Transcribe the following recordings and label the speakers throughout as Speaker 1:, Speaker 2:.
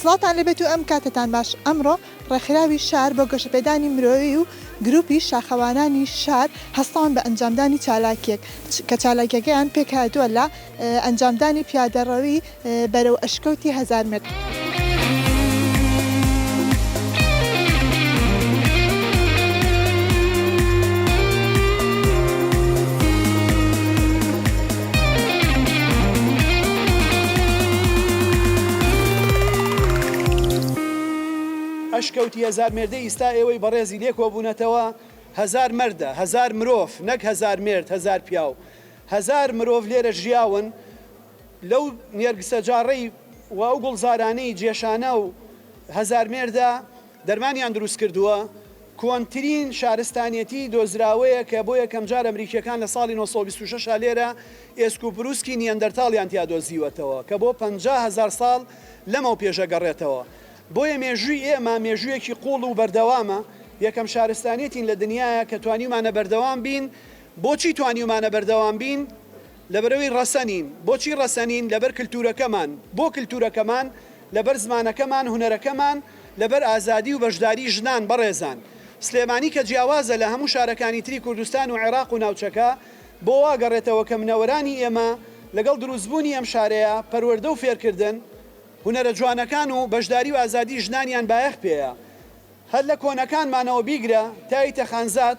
Speaker 1: سڵاوتان لێبێت و ئەم کاتەتان باش ئەمڕۆ ڕێکخراوی شار بۆ گەشەپێدانی مرۆیی و گروپی شاخەوانانی شار هەستاون بە ئەنجامدانی چالاکیەک کە چالاکیەکەیان پێکهاتوە لە ئەنجامدانی پیادەڕەوی بەرەو ئەشکەوتی هەزار متر.
Speaker 2: ئەشکەوتی هەزار مێردە ئیستا ئێوەی بەڕێزی لێ کۆبوونەتەوە هەزار مەردە هەزار مرۆڤ نەک هەزار مێرد هەزار پیاو هەزار مرۆڤ لێرە ژیاون لەو نێرگسە جاڕەی و ئەو گوڵزارانەی جێشانە و هەزار مێردە دەرمانیان دروست کردووە، کۆنترین شارستانیەتی دۆزراوەیە کە بۆ یەکەمجار ئەمریکییەکان لە ساڵی نۆ سەد و بیست و شەش لێرە ئێسک و پروسکی نیەندەرتاڵیان تیا دۆزیوەتەوە کە بۆ پەنجا هەزار ساڵ لەمەو پێش ئەگەڕێتەوە بۆیە مێژووی ئێمە مێژوویەکی قوڵ و بەردەوامە یەکەم شارستانیەتین لە دنیایا کە توانیومانە بەردەوام بین بۆچی توانیومانە بەردەوام بین؟ لەبەرئەوەی ڕەسەنین. بۆچی ڕەسەنین؟ لەبەر کلتورەکەمان. بۆ کلتورەکەمان؟ لەبەر زمانەکەمان، هونەرەکەمان، لەبەر ئازادی و بەشداری ژنان. بەڕێزان. سلێمانی کە جیاوازە لە هەموو شارەکانی تری کوردستان و عێراق و ناوچەکە، بۆ وا گەڕێتەوە کە منەوەرانی ئێمە لەگەڵ دروستبوونی ئەم شارەیە، پەروەردە و فێرکردن، هونەرە جوانەکان و بەشداری و ئازادی ژنانیان بایەخ پێیە. هەر لە کۆنەکانمانەوە بیگرە تا یتە خانزاد،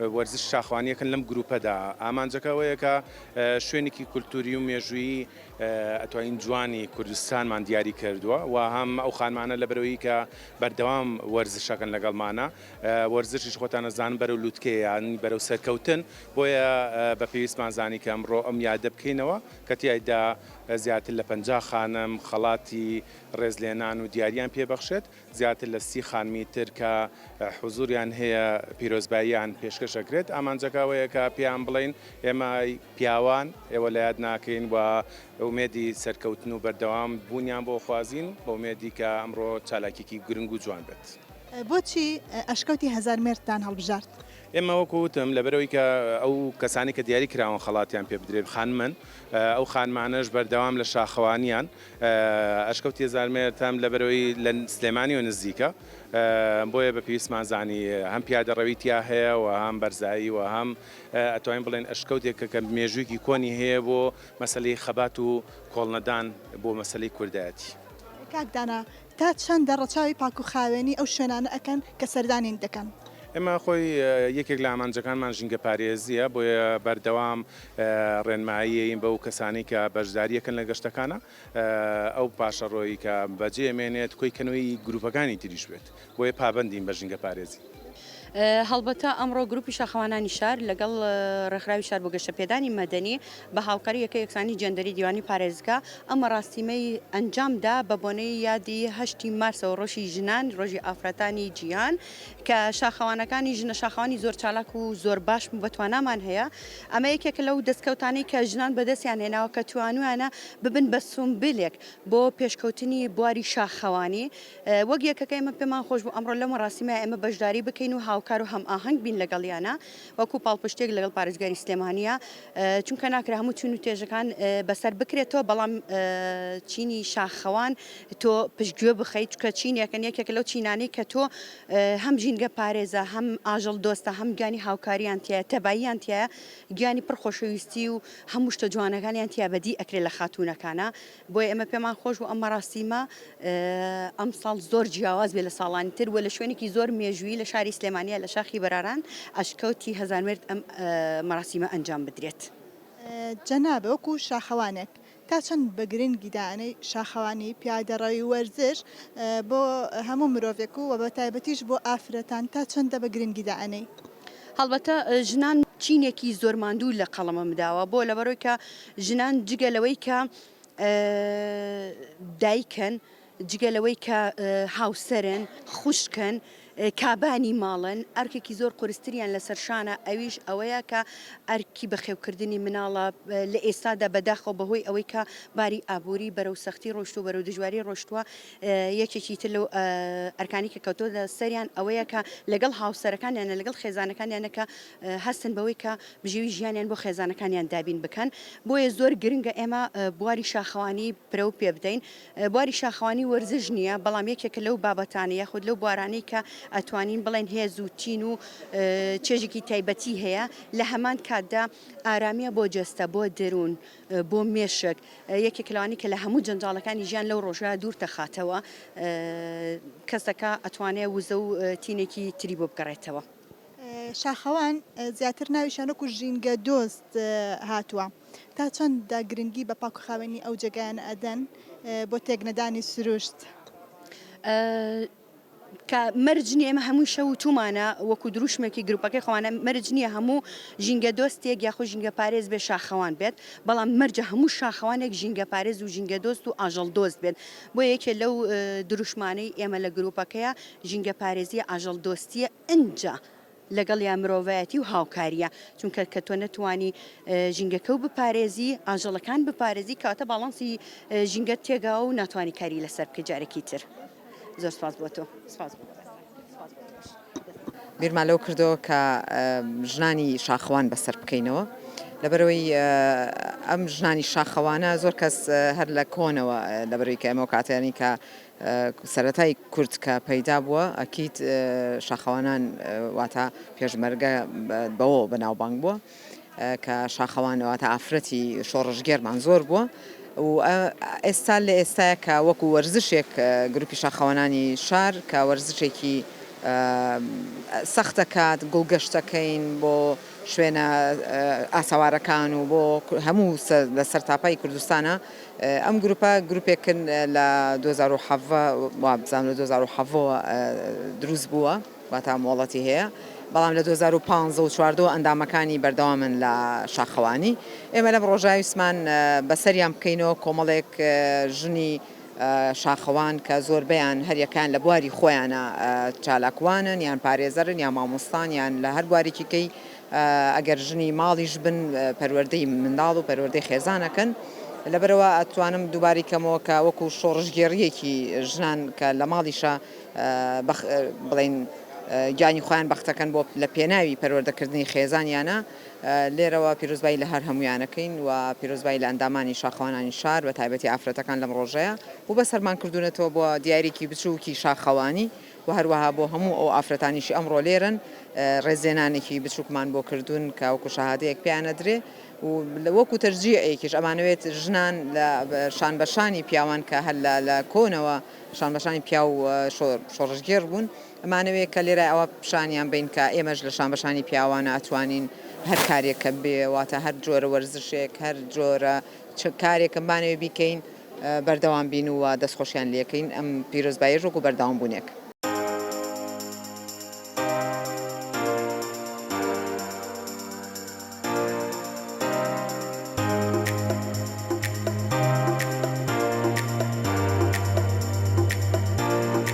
Speaker 3: وەرزش شاخوانیەکن لەم گروپەدا ئامانجەکە ئەوەیە کە شوێنێکی کولتوری و مێژوویی ئەتوانین جوانی کوردستانمان دیاری کردووە و هەم ئەو خانمانە لە بەرەوەی کە بەردەوام وەرزشەکەن لەگەڵمانە وەرزشیش خۆتانە زان بەرەو لوتکەیان بەرەو سەرکەوتن بۆیە بە پێویستمان زانی کە ئەمڕۆ ئەم یادە بکەینەوە کە تیایدا زیاتر لە پەنجا خانم خەڵاتی ڕێزلێنان و دیاریان پێبەخشێت. زیاتر لە سی خانمی تر کە حوزوریان هەیە پیرۆزباییان پێشکەش ئەکرێت، ئامانجەکە ئەوەیە کە پێیان بڵێین ئێمە پیاوان ئێوە لە یاد ناکەین و ئومێدی سەرکەوتن و بەردەوام بوونیان بۆ خوازین بە ئومێدی کە ئەمڕۆ چالاکیەکی گرنگ و جوان بێت. بۆچی
Speaker 1: ئەشکەوتی هەزار مێردتان هەڵبژارد؟ ئێمە وەکو وتم
Speaker 3: لەبەرئەوەی کە ئەو کەسانەی کە دیاری کراون خەڵاتیان پێ بدرێت خانمن، ئەو خانمانەش بەردەوام لە شاخەوانیان، ئەشکەوت یەزارمێر تەم لەبەرەوەی لە سلێمانیەوە نزیکە بۆیە بە پێویستمان زانی هەم پیادە ڕەوی تیا هەیە و هەم بەرزایی و هەم ئەتوانین بڵێن ئەشکەوتێکە کە مێژوویکی کۆنی هەیە بۆ مەسەلەی خەبات و کۆڵنەدان بۆ مەسەلەی کوردایەتی. کاک دانا
Speaker 1: تا چەندە ڕەچاوی پاک و خاوێنی ئەو شوێنانە ئەکەن کە سەردانین دەکەن؟ ئێمە خۆی
Speaker 3: یەکێک لە ئامانجەکانمان ژینگە پارێزیە بۆیە بەردەوام ڕێنماییەیی بەو کەسانەی کە بەشدارییەکەن لە گەشتەکانە ئەو پاشەڕۆیی کە بەجێ مێنێت کۆی کەنەوەی گروپەکانی تریش بێت بۆیە پابەندین بە ژینگە پارێزی. هەڵبەتە
Speaker 4: ئەمڕۆ گروپی شاخەوانانی شار لەگەڵ ڕێکخراوی شار بۆ گەشەپێدانی مەدەنی بە هاوکاری یەکەی یەکسانی جێندەری دیوانی پارێزگا ئەم مەڕاستیمەی ئەنجام دا بە بۆنەی یادی هەشتی مارسەوە ڕۆژی ژنان ڕۆژی ئافرەتانی جیهان کە شاخەوانەکانی ژنە شاخەوانی زۆر چالاک و زۆر باش و بەتوانامان هەیە ئەمە یەکێکە لەو دەستکەوتانەی کە ژنان بەدەستیان هێناوە کە توانویانە ببن بە سومبلێک بۆ پێشکەوتنی بواری شاخەوانی وەک یەکەکە ئێمە پێمان خۆش بوو ئەمڕۆ لەو مەراسیمە ئێمە بەشداری بکەین و هاوکار و هەمئاهەنگ بین لەگەڵیانە وەکو پاڵپشتێک لەگەڵ پارێزگاری سلێمانیە چونکە ناکرا هەموو چون و توێژەکان بەسەر بکرێتەوە بەڵام چینی شاخەوان تۆ پشتگوێ بخەیت چکە چینێکە یەکێک لەو چینانەی کە تۆ هەم ژینگە پارێزە هەم ئاژەڵ دۆستە هەم گیانی هاوکاریان تایە تەباییان تایە گیانی پڕخۆشەویستی و هەموو شتە جوانەکانیان تیا بەدی ئەکرێت لە خاتونەکانە بۆیە ئێمە پێمان خۆش بوو ئەم مەراسیمە ئەمساڵ زۆر جیاواز بێ لە ساڵانی تر وە لە شوێنێکی زۆر مێژووی لە شاری سلێمانیا لە شاخی بەراران ئەشکەوتی هەزارمرد ئەم مەراسیمە ئەنجام بدرێت. جەنابت وەکو
Speaker 1: شاخەوانێک
Speaker 4: تا
Speaker 1: چەند بە گرنگی دائەنێی شاخەوانی، پیادەڕەوی، وەرزش بۆ هەموو مرۆڤێک و بەتایبەتیش بۆ ئافرەتان تا چەندە بە گرنگی دائەنێی؟ هەڵبەتە
Speaker 4: ژنان چینێکی زۆر ماندوو لە قەڵەمم داوە بۆ لەبەرۆی کە ژنان جگە لەوەی کە دایکن جگە لەوەی کە هاوسەرن خوشکن کابانی ماڵن ئەرکێکی زۆر قورستریان لە سەرشانە ئەویش ئەوەیە کە ئەرکی بەخێوکردنی مناڵە لە ئێستادا بەداخەوە بەهۆی ئەوەی کە باری ئابووری بەرەو سەختی ڕۆشت و بەرەو دژواری ڕۆشتووە یەکێکی تر لەو ئەرکانی کە کەوتۆتە سەریان ئەوەیە کە لەگەڵ هاوسەرەکانیانە لەگەڵ خێزانەکانیانە کە هەستن بەوەی کە بژێوی ژیانیان بۆ خێزانەکانیان دابین بکەن بۆیە زۆر گرنگە ئێمە بواری شاخەوانی پرە و پێ بدەین بواری شاخەوانی وەرزش نییە بەڵام یەکێکە لەو بابەتانە یاخود لەو بوارانەی کە ئەتوانین بڵێن هێز و تین و چێژێکی تایبەتی هەیە لە هەمان کاتدا ئارامیە بۆ جەستە بۆ دەروون بۆ مێشک یەکێک لەوانی کە لە هەموو جەنجاڵەکانی ژیان لەو ڕۆژگار دوور تەخاتەوە کەسەکە ئەتوانێت وزە و تینێکی تری بۆ بگەڕێتەوە. شاخەوان
Speaker 1: زیاتر ناوی شانۆک و ژینگە دۆست هاتووە تا چەند دا گرنگی بە پاک و خاوێنی ئەو جێگایان ئەدەن بۆ تێکنەدانی سروشت؟
Speaker 4: کە مەرج نییە، ئێمە هەمووشە وتوومانە وەکوو درووشمێکی گرووپەکەی خۆمانە، مەرج نییە هەموو ژینگەدۆستێک یاخود ژینگەپارێز بێت شاخەوان بێت، بەڵام مەرجە هەموو شاخەوانێک ژینگەپارێز و ژینگەدۆست و ئاژەڵدۆست بێت، بۆیە یەکێ لەو درووشمانەی ئێمە لە گرووپەکەیە ژینگەپارێزییە، ئاژەڵدۆستییە، ئینجا. لەگەڵیا مرۆڤایەتی و هاوکاریە چونکە کە تۆ نەتوانی ژینگەکەو بپارێزی ئاژەڵەکان بپارێزی کەواتە باڵانسی ژینگەت تێگا و ناتوانانی کاری لەسەر بکەی جارێکی تر زۆر سپاس بۆ تۆ سپاس بۆ
Speaker 5: بیرمان لەوە کردەوە کە ژنانی شاخەوان بەسەر بکەینەوە لەبەرەوەی ئەم ژنانی شاخەوانە زۆر کەس هەر لە کۆنەوە لەبەرەوەی کە ئەمەو کاتیانی کە سەرەتای کورد کە پەیدا بووە ئەکید شاخەوانان واتا پێشمەرگە بەوەوە بەناوبانگ بووە کە شاخەوان واتا ئافرەتی شۆڕشگێرمان زۆر بووە و ئێستا لە ئێستاە کە وەکو وەرزشێک گروپی شاخەوانانی شار کە وەرزشێکی سەختەکات گوڵگەشتەکەین بۆ شوێنە ئاسەوارەکان و بۆ هەموو لەسەر تاپای کوردستانە ئەم گروپە گروپێکن لە دوو هەزار و حەڤدە وابزانم لە دوو هەزار و حەڤدە وە دروست بووە واتا مۆڵەتی هەیە بەڵام لە دوو هەزار و پازدە و چواردە وە ئەندامەکانی بەردەوامن لە شاخەوانی ئێمە لەم ڕۆژە ویستمان بەسەریان بکەینەوە کۆمەڵێک ژنی شاخەوان کە زۆربەیان هەریەکان لە بواری خۆیانە چالاکوانن یان پارێزەرن یا مامۆستان یان لە هەر بوارێکیکەی ئەگەر ژنی ماڵیش بن پەروەردەی منداڵ و پەروەردەی خێزان ئەکەن لەبەرئەوە ئەتوانم دووبارەی کەمەوە کە وەکو شۆڕشگێڕیەکی ژنان کە لە ماڵیشە بڵین گیانی خۆیان بەختەکەن بۆ لە پێناوی پەروەردەکردنی خێزانیانە لێرەوە پیرۆزبایی لە هەر هەمویانەکەین و پیرۆزبایی لە ئەندامانی شاخەوانانی شار بە تایبەتی ئافرەتەکان لەم ڕۆژەیە و بە سەرمان کردوونەتەوە بۆ دیارێکی بچووکی شاخەوانی وە هەروەها بۆ هەموو ئەو ئافرەتانیشی ئەمڕۆ لێرەن ڕێزلێنانێکی بچوکمان بۆ کردوون کە وەکو شەهادەیەک پێیان ئەدرێ و وەکو تەشجیعێکیش ئەمانەوێت ژنان لە شانبەشانی پیاوان کە هەر لە لە کۆنەوە شانبەشانی پیاو شۆڕشگێڕ بوون ئەمانەوێت کە لێرە ئەوە پیشانیان بەین کە ئێمەش لە شانبەشانی پیاوانە ئەتوانین هەر کارێک کە بێ واتە هەر جۆرە وەرزشێک هەر جۆرە چ کارێکم بانەوێ بیکەین بەردەوام بین و دەستخۆشیان لێکەین ئەم پیرۆزباییەش وەکو بەردەوامبوونێک.